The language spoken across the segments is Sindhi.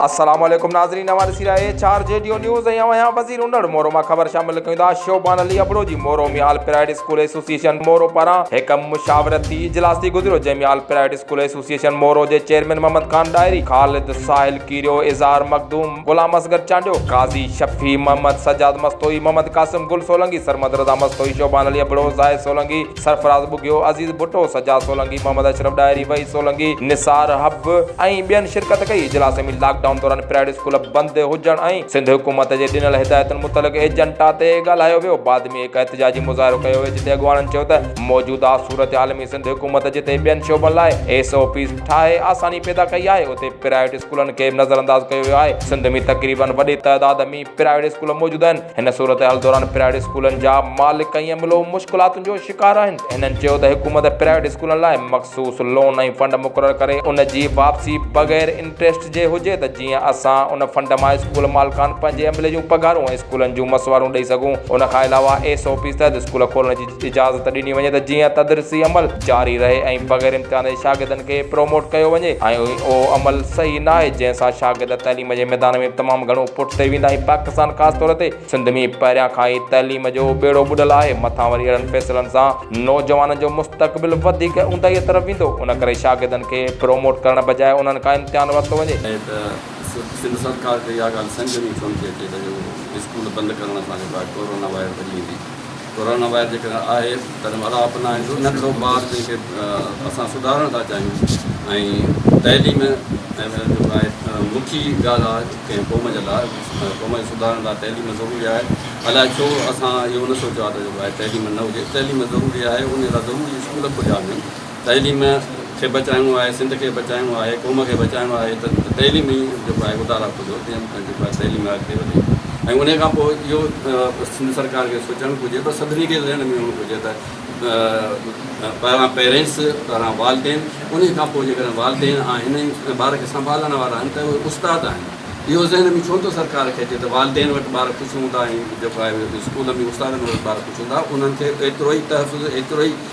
السلام عليڪم ناظرين اوهان ڏسي رهيا اهي چار جي ڊيو نيوز ۽ اوهان اها وزير انڙ مورو مان خبر شامل ڪيون ٿا شوبان علي ابڙو جي Moro ۾ all Pride school association Moro پاران هڪ مشاورتي اجلاس ٿي گذريو جنهن ۾ all Pride school association Moro جي چيئرمين محمد خان ڏاهري خالد ساحل ڪيريو اظهار مخدوم غلام اصغر چانڊيو قاضي شفيع محمد سجاد مستوئي محمد قاسم گل سولنگي سرمد رضا مستوئي شوبان علي ابڙو زاهد سولنگي سرفراز ٻگهيو، عزيز ڀٽو، سجاد سولنگي، محمد اشرف ڏاهري، وحيد سولنگي، نثار حب ۽ ٻين شرڪت ڪئي. اجلاس ۾ لاڪ ڊائون دوران پرائيويٽ اسڪول بند هجڻ ۽ سنڌ حڪومت جي ڏنل هدايتن متعلق ايجنڊا تي ڳالهايو ويو. بعد ۾ هڪ احتجاجي مظاهرو ڪيو ويو جتي اڳواڻن چيو ته موجوده صورتحال ۾ سنڌ حڪومت جتي ٻين شعبن لاء ايس او پيز ٺاهي آساني پيدا ڪئي آهي اتي پرائيويٽ اسڪولن کي نظرانداز ڪيو ويو آهي. سنڌ ۾ تقريبن وڏي تعداد ۾ پرائيويٽ اسڪول موجود آهن هن صورتحال دوران پرائيويٽ اسڪولن جا مالڪ ۽ ايم ايل او مشڪلاتن جو شڪار آهن هنن چيو ته حڪومت پرائيويٽ اسڪولن لاء مخصوص لون ۽ فنڊ مقرر ڪري ان جي واپسي بغير انٽريسٽ جي هجي ته جيئن اسان ان فنڊ مان اسڪول مالڪان پنهنجي عملي جون پگهارون ۽ اسڪولن جون مسوارون ڏئي سگهون ان کان علاوه ايس او پيز تحت اسڪول کولڻ جي اجازت ڏني وڃي ته جيئن تدريسي عمل جاري رهي ۽ بغير امتحان جي شاگردن کي پروموٽ ڪيو وڃي ۽ اهو عمل صحيح ناهي جنهن سان شاگرد تعليم جي ميدان ۾ تمام گهڻو پٺتي ويندا ۽ پاڪستان خاص طور تي سنڌ ۾ پهريان کان ئي تعليم جو ٻيڙو ٻڏل آهي مٿان وري اهڙن فيصلن سان نوجوانن جو مستقبل وڌيڪ اونداهي طرف ويندو ان ڪري شاگردن کي پروموٽ ڪرڻ بجاء انهن کان امتحان ورتو وڃي. ائين ته سنڌ سرڪار کي اها ڳالهه سمجهه ۾ ئي ڪونه ٿي اچي ته اهو اسڪول بند ڪرڻ سان جيڪو آهي ڪورونا وائرس ڀڄي ويندي. ڪورونا وائرس جيڪڏهن آهي تڏهن اڙاء اپنائيندو نه ڪرو ٻار جن کي اسان سڌارڻ ٿا چاهيون ۽ تعليم ۽ جيڪو آهي مکي ڳالهه آهي ڪنهن قوم جي لاء قوم جي سڌارڻ لاء تعليم ضروري آهي الاء ڇو اسان اهو نه سوچيو آهي ته جيڪو آهي تعليم نه هجي تعليم ضروري آهي ان لاء ضروري اسڪول کوليا وڃن تعليم کي بچائڻو آهي، سنڌ کي بچائڻو آهي، قوم کي بچائڻو آهي ته تعليم ئي جيڪو آهي اڌار آف ٿو جيئن به جيڪو آهي تعليم اڳتي وڌي ۽ انهي کان پوء اهو سنڌ سرڪار کي سوچڻ گهرجي پر سڀني کي ذهن ۾ هئڻ گهرجي ته پهريان پيرينٽس پهريان والدين انهي کان پوء جيڪڏهن والدين آهن ۽ ٻار کي سنڀالڻ وارا آهن ته اهي استاد آهن اهو ذهن ۾ ڇو نٿو سرڪار کي اچي ته والدين وٽ ٻار خوش هوندا ۽ جيڪو آهي اسڪول ۾ استادن وٽ ٻار خوش هوندا انهن کي ايترو ئي تحفظ ايترو ئي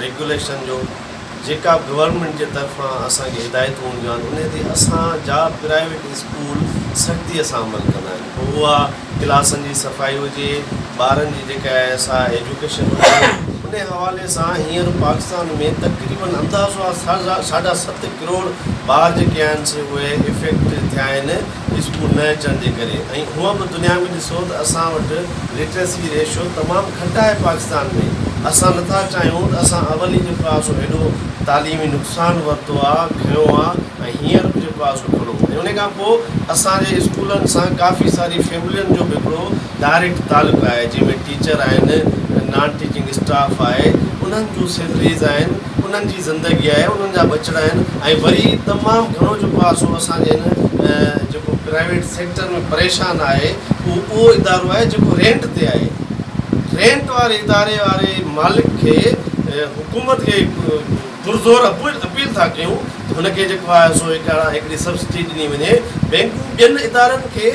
ريگوليشن جو جيڪا به گورنمينٽ جي طرفان اسان کي هدايتون هونديون آهن انهي تي اسان جا پرائيويٽ اسڪول سختي سان عمل ڪندا آهن پوء اها ڪلاسن جي صفائي هجي ٻارن جي جيڪا آهي سا ايجوڪيشن هجي انهي حوالي سان هينئر پاڪستان ۾ تقريبن اندازو آهي ساڍا ست ڪروڙ ٻار جيڪي آهن سي اهي افيڪٽ ٿيا آهن اسڪول نه اچڻ جي ڪري ۽ هونء به دنيا ۾ ڏسو ته اسان وٽ لٽريسي ريشو تمام گهٽ آهي پاڪستان ۾ اسان نٿا چاهيون ته اسان اولين جو پاسو هيڏو تعليمي نقصان ورتو آ کنيو آ ۽ هينئر به جو پاسو کڻون ۽ انهي کان پوء اسان جي اسڪولن سان ڪافي ساري فيملين جو به هڪڙو ڊائريڪٽ تعلق آهي جنهن ۾ ٽيچر آهن نان ٽيچنگ اسٽاف آهي انهن جون سيلريز آهن انهن جي زندگي آهي انهن جا ٻچڙا آهن ۽ وري تمام گهڻو جيڪو آهي سو اسان جي هن جيڪو پرائيويٽ سيڪٽر ۾ پريشان آهي اهو اهو ادارو آهي جيڪو رينٽ تي آهي رينٽ واري اداري واري مالڪ کي حڪومت کي پرزور اپيل ٿا ڪيون ته هن کي جيڪو آهي سو هڪڙي سبسڊي ڏني وڃي بينڪون ٻين ادارن کي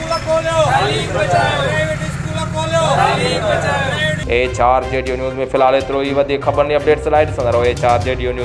ايڇ آر جي ڊيو نيوز ۾ في الحال ايترو ئي وڌيڪ خبرن ۽ اپڊيٽس لاء ڏسندا رهو ايڇ آر جي ڊيو نيوز.